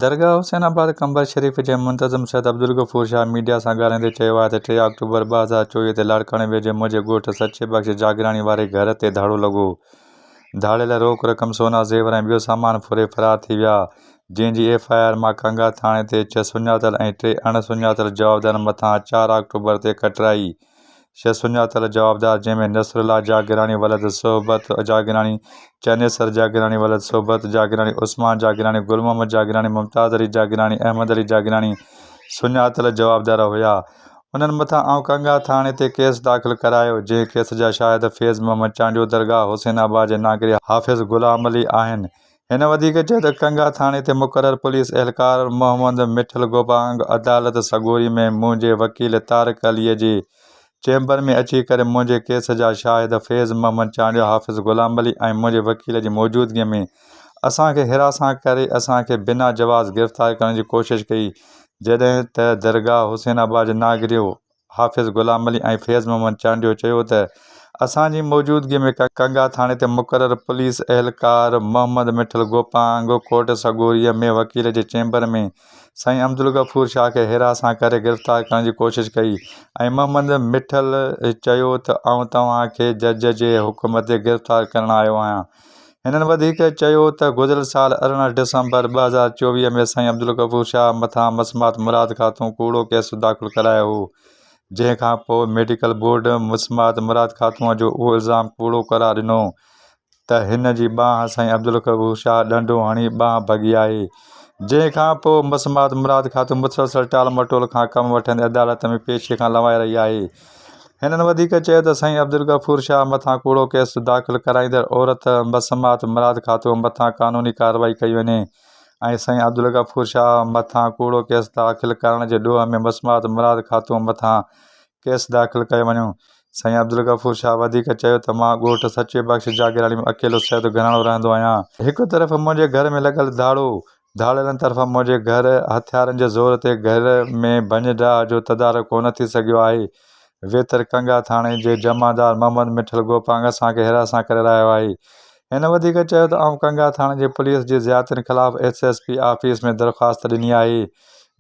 درگاهه حسين آباد قمبر شريف جي منتظم سيد عبدالغفور شاهه ميڊيا سان ڳالهائيندي چيو آهي ته ٽي آڪٽوبر ٻه هزار چوويهه تي لاڙڪاڻي ويجهي منهنجي ڳوٺ سچي بخش جاگراڻي واري گهر تي ڌاڙو لڳو ڌاڙيل روڪ رقم سونا زيور ۽ ٻيو سامان ڦري فرار ٿي ويا جنهن جي ايف آء آر مان ڪانگا ٿاڻي تي ڇهه سڃاتل ۽ ٽي اڻ سڃاتل جوابدارن مٿان چار آڪٽوبر تي ڪٽرائي شيخ سڃاتل جوابدار، جنهن ۾ نصر الله جاگيراڻي ولد صحبت جاگيراڻي، چنيسر جاگيراڻي ولد صحبت جاگيراڻي، عثمان جاگيراڻي، گل محمد جاگيراڻي، ممتاز علي جاگيراڻي، احمد علي جاگيراڻي سڃاتل جوابدار هيا. انهن مٿان آئون ڪنگا ٿاڻي تي ڪيس داخل ڪرايو، جنهن ڪيس جا شاهد فيض محمد چانڊيو درگاهه حسين آباد جي ناگري حافظ غلام علي آهن، هن وڌيڪ چيو ته ڪنگا ٿاڻي تي مقرر پوليس اهلڪار محمد مٺل گوبانگ عدالت سڳوري ۾ منهنجي وڪيل طارق علي جي چيمبر ۾ اچي ڪري منهنجي ڪيس جا شاهد فيض محمد چانڊيو، حافظ غلام علي ۽ منهنجي وڪيل جي موجودگي ۾ اسان کي حراسان ڪري اسان کي بنا جواز گرفتار ڪرڻ جي ڪوشش ڪئي جڏهن ته درگاهه حسين آباد جي ناگريو حافظ غلام علي ۽ فيض محمد چانڊيو چيو ته اسان جي موجودگي ۾ ڪنگا ٿاڻي تي مقرر پوليس اهلڪار محمد مٺل گوپانگ ڪورٽ سڳوريء ۾ وڪيل جي چيمبر ۾ سائين عبدالغفور شاهه کي هيرا سان ڪري گرفتار ڪرڻ جي ڪوشش ڪئي ۽ محمد مٺل چيو ته آئون توهان کي جج جي حڪم تي گرفتار ڪرڻ آيو آهيان. هنن وڌيڪ چيو ته گذريل سال ارڙهن ڊسمبر ٻه هزار چوويهه ۾ سائين عبدالغفور شاهه مٿان مسمات مراد خاتون ڪوڙو ڪيس داخل ڪرايو هو جنهن کان پوء ميڊيڪل بورڊ مسمات مراد خاتون جو اهو الزام ڪوڙو قرار ڏنو ته هن جي ٻانهن سائين عبدالغفور شاهه ڏنڊو هڻي ٻانهن ڀڳي آهي جنهن کان پوء مسمات مراد خاتون مسلسل ٽال مٽول کان ڪم وٺندي عدالت ۾ پيشي کان لنوائي رهي آهي هنن وڌيڪ چيو ته سائين عبدالغفور شاهه مٿان ڪوڙو ڪيس داخل ڪرائيندڙ عورت بسمات مراد خاتون مٿان قانوني ڪارروائي ڪئي وڃي ۽ سائين عبدالغفور شاهه مٿان ڪوڙو ڪيس داخل ڪرڻ جي ڏوهه ۾ بسمات مراد خاتون مٿان ڪيس داخل ڪيو وڃو. سائين عبدالغفور شاهه وڌيڪ چيو ته مان ڳوٺ سچي بخش جاگيراڻي ۾ اڪيلو سيد گهراڻو رهندو آهيان. هڪ طرف منهنجي گهر ۾ لڳل ڌاڙو ڌاڙيلن طرفان منهنجي گهر هٿيارن جي زور تي گهر ۾ ڀڃ ڊاهه جو تدارڪ ڪونه ٿي سگهيو آهي. ويتر ڪنگا ٿاڻي جي جمعدار محمد مٺل گوپانگ اسان کي حراسان ڪري رهايو آهي. هن وڌيڪ چيو ته آئون ڪنگا ٿاڻي جي پوليس جي زيادتين خلاف ايس ايس پي آفيس ۾ درخواست ڏني آهي،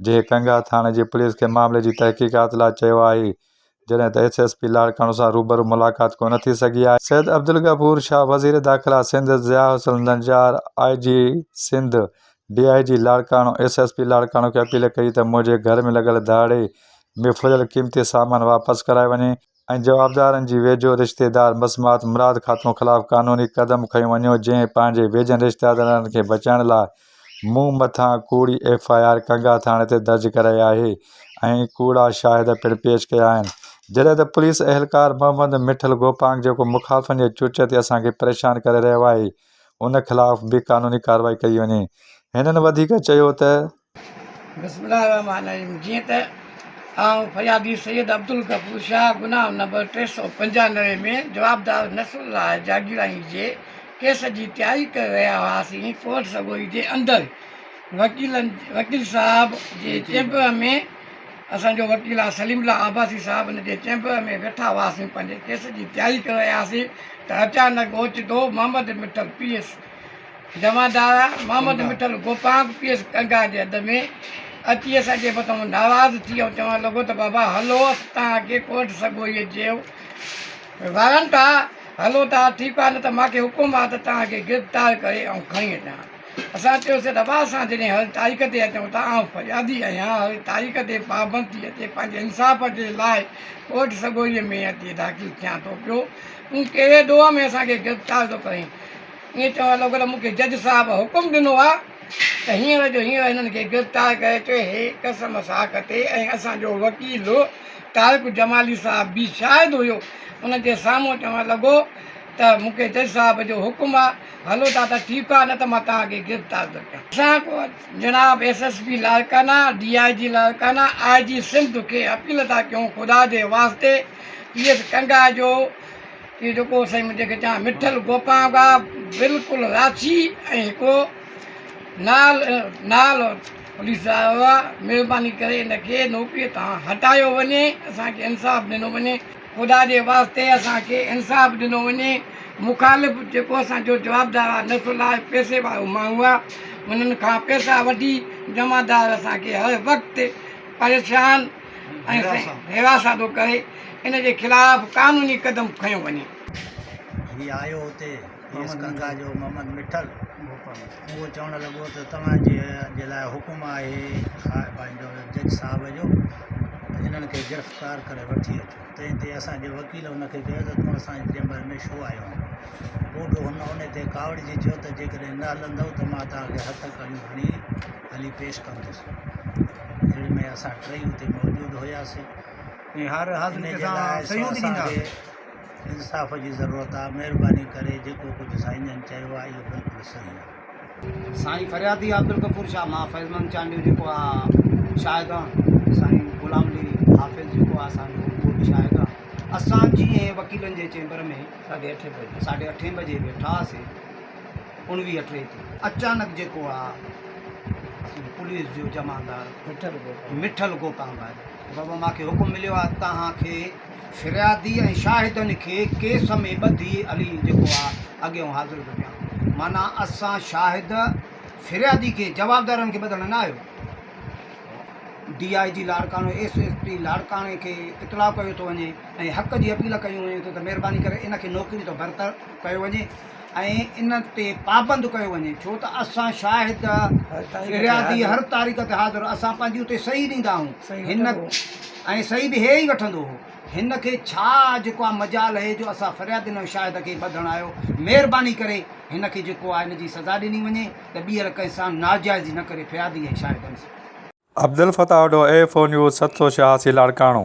جنهن ڪنگا ٿاڻي جي پوليس کي معاملي جي تحقيقات لاء چيو آهي. جڏهن ته ايس ايس پي لاڙڪاڻو سان روبرو ملاقات ڪونه ٿي سگهي آهي. سيد عبدالغفور شاهه وزير داخلا Sindh, Zia Hasan Najjar I G Sindh, D I G Larkana S S P Larkana کي اپيل ڪئي ته منهنجي گهر ۾ لڳل ڌاڙي ۾ ڦريل قيمتي سامان واپس ڪرائي وڃي ۽ جوابدارن جي ويجهو رشتيدار مسمات مراد خاتون خلاف قانوني قدم کنيو وڃو جنهن پنهنجي ويجهن رشتيدارن کي بچائڻ لاء مون مٿان ڪوڙي ايف آء آر ڪنگا ٿاڻي تي درج ڪرائي آهي ۽ ڪوڙا شاهد پڻ پيش ڪيا آهن جڏهن ته پوليس اهلڪار محمد مٺل گوپانگ جيڪو مخالفن جي چرچ تي اسان کي پريشان ڪري رهيو آهي ان خلاف به قانوني ڪارروائي ڪئي وڃي هنن وڌيڪ چيو ته. بسم الله الرحمٰن الرحيم جيئن ته آئون فريادي سيد عبدالغفور شاهه گناهه نمبر ٽي سؤ پنجانوي ۾ جوابدار نصرالله جاگيراڻي جي ڪيس جي تياري ڪري رهيا هئاسين، ڪورٽ سگوري جي اندر وڪيلن وڪيل صاحب جي چيمبر ۾ اسان جو وڪيل آ سليم الله عباسي صاحب ان جي چيمبر ۾ ويٺا هئاسين پنهنجي ڪيس جي تياري ڪري رهيا هئاسين ته اچانڪ اوچتو محمد مٺل پي ايس جمعدار محمد مٺل گوپانگ پي ايس ڪنگا جي اڏ ۾ اچي اسان جي مٿان ناراض ٿي ۽ چوڻ لڳو ته بابا هلو اسان توهان کي ڪورٽ سگوري جي وارن ٿا، هلو ٿا، ٺيڪ آهي نه ته مان کي حڪم آهي ته توهان کي گرفتار ڪري آئون کڻي اچان. اسان چيوسين ته واهه اسان جڏهن هر تاريخ تي اچون ٿا آئون فريادي آهيان هر تاريخ تي پابند ٿي اچي پنهنجي انصاف جي لاء ڪورٽ سڳوريء ۾ اچي داخل ٿيان ٿو پيو تون ڪهڙي ڏوهه ۾ اسان کي گرفتار ٿو ڪرين ائين چوڻ لڳو ته مون کي جج صاحب حڪم ڏنو آهي ته هينئر جو هينئر هنن کي گرفتار ڪري اچو هي قسم ساک تي ۽ اسان جو وڪيل طارق جمالي صاحب به شاهد هيو، ان جي سامهون چوڻ لڳو ته مون کي جج صاحب جو حڪم آ، هلو ٿا ته ٺيڪ آ نه ته مان توهان کي گرفتار ٿو ڪيان. اسان جناب S S P Larkana, D I G Larkana, I G Sindh کي اپيل ٿا ڪيون خدا جي واسطي پي ايس ڪنگا جو اهو جيڪو سائين مون جنهن کي چوان مٺل گوپانگ آ بلڪل راشي ۽ هڪڙو نال نال پوليس صاحب مھرباني ڪري ان کي نوڪري تان ھٽايو وڃي اسان کي انصاف ڏنو وڃي خدا جي واسطي اسان کي انصاف ڏنو وڃي مخالف جيڪو اسان جو جوابدار آ نسل آ پيسي وارو ماڻھو آ انھن کان پيسا وٺي جمعدار اسان کي ھر وقت پريشان ۽ حراسان ٿو ڪري ان جي خلاف قانوني قدم کنيو وڃي. ھي آيو اتي. کيس گنگا جو محمد مٺل اهو چوڻ لڳو ته توهان جي جي لاء حڪم آهي پنهنجو جج صاحب جو انهن کي گرفتار ڪري وٺي اچو تنهن تي اسان جي وڪيل ان کي چيو ته تون اسان جي چيمبر ۾ ڇو آيو آهين پوء به هن ان تي ڪاوڙجي چيو ته جيڪڏهن نه هلندؤ ته مان توهان کي هٿ ڪڙيون هڻي هلي پيش ڪندس اهڙي ۾ اسان ٽئي اتي موجود هياسين ۽ هر حاضري جي لاء سيوت ڏيندا انصاف جي ضرورت آ مھرباني ڪري جيڪو ڪجھ سائين جن چيو آ اھو بلڪل صحيح آ. سائين فريادي عبدالغفور شاھ مان فيض مند چانڊيو جيڪو آ شاھد آ سائين غلام علي حافظ جيڪو آ اسان جو اھو به شاھد آ اسان جي ۽ وڪيلن جي چيمبر ۾ ساڍي اٺين بجي ساڍي اٺين بجي ويٺا ھئاسين اڻويھ ٽي تي اچانڪ جيڪو آ اسان جي پوليس جو جمعدار مٺل گوپانگ آيو بابا ماکي حڪم مليو آ توھان کي فريادي ۽ شاهدن کي ڪيس ۾ ٻڌي علي جيڪو آ اڳيئون حاضر ٿو ڪيان. معنيٰ اسان شاهد فريادي کي جوابدارن کي ٻڌڻ نه آيو. D I G Larkana S S P لاڙڪاڻي کي اطلاع ڪيو ٿو وڃي ۽ حق جي اپيل ڪيون وڃي ٿيون ته مهرباني ڪري ان کي نوڪري تان برطرف ڪيو وڃي. ۽ ان تي پابند ڪيو وڃي ڇو ته اسان شاهد فريادي هر تاريخ تي حاضر اسان پنهنجي اتي صحيح ڏيندا آهون هن ۽ صحيح به هي ئي وٺندو هو هن کي ڇا جيڪو آ مجال هي جو اسان فرياد ڏنو شاهد کي ٻڌڻ آيو مهرباني ڪري هن کي جيڪو آ هن جي سزا ڏني وڃي ته ٻيهر ڪنهن سان ناجائزي نه ڪري فريادي ۽ شاهدن سان Abdulfattah Wadho A four news ست سو ڇهاسي لاڙڪاڻو،